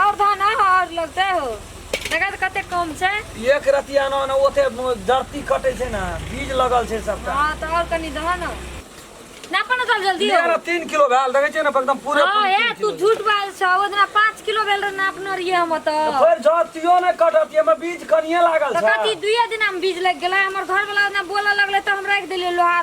और धान आह और लगते हो देखा तो कते कम छै एक रतिया न न ओते धरती कटे छै ना बीज लगल छै सबटा हां तो और कनी दह न ना पन सब जल्दी हो ना 3 किलो भेल देखे छै ना एकदम पूरे हां ए तू झूठ बाल छ ओदना 5 किलो भेल ना अपना रिए हम त फेर जतियो न कटत हम बीज कनिए लागल छै कति दुइया दिन हम बीज लग गेला हमर घर वाला ना बोला लगले त हम रख देले लोहा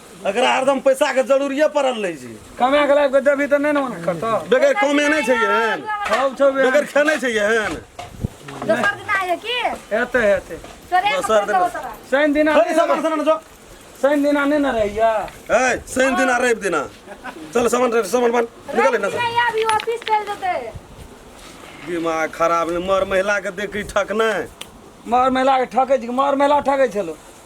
एकरा हरदम पैसा के जरूरिये पड़ल रहै छै कमा के लाइफ के देबी तऽ नहि ने मना करतौ बेगर कमे नहि छै एहन सब छौ बे बेगर खेने छै एहन दोसर दिन आइए की हेतै हेतै तोरे दोसर दिन। तोरा शनि दिना हरि सामान सना जो शनि दिना नहि ने रहैया ए शनि दिना रवि दिना चल सामान रे, सामान बन निकल ना नहीं अभी ऑफिस चल जेते दिमाग खराब ने मर महिला के देखी ठक नहि मर महिला के ठकै छी मर महिला ठकै छलो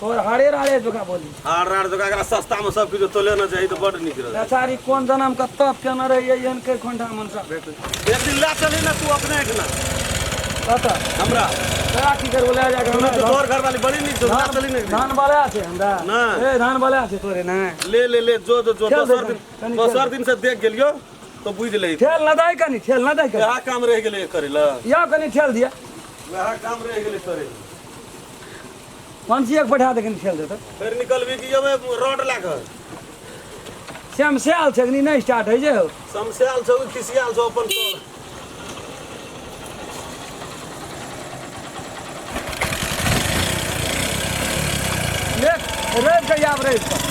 तोर हरे राड़े जोका बोली हार रार जगह एकरा सस्ता में सब किछु तोले न चाही तऽ बड नीक रहत बेचारी कोन जन्म के तप केने रही एहन के खोंठा मनसा भेट एक दिन ला चली ना तू अपने एक ना कत हमरा तोरा की करबो ले जा सुनू तू तोहर घर वाली बड़ी नीक छौ ला चली ना एक दिन। धान बला छै हमरा नहि। ए धान बला छै तोरे ने ले ले ले जो जो जो खेल दोसर दे, दिन कनी दोसर खेल। दिन से देख गेलियो तो बुझ ले खेल न दै कनी खेल न दै कनी वएह काम रह गेलै करे ला या कनी खेल दिया वएह काम रह गेलै करे ला। पंछी एक बैठा देखे खेल देते फिर निकल भी कि ओमे रॉड लागल श्याम से आल छगनी नहीं स्टार्ट है जे हो समस्याल छौ कि खिसियाल छौ अपन तो देख रेस कहिया आप रेस पर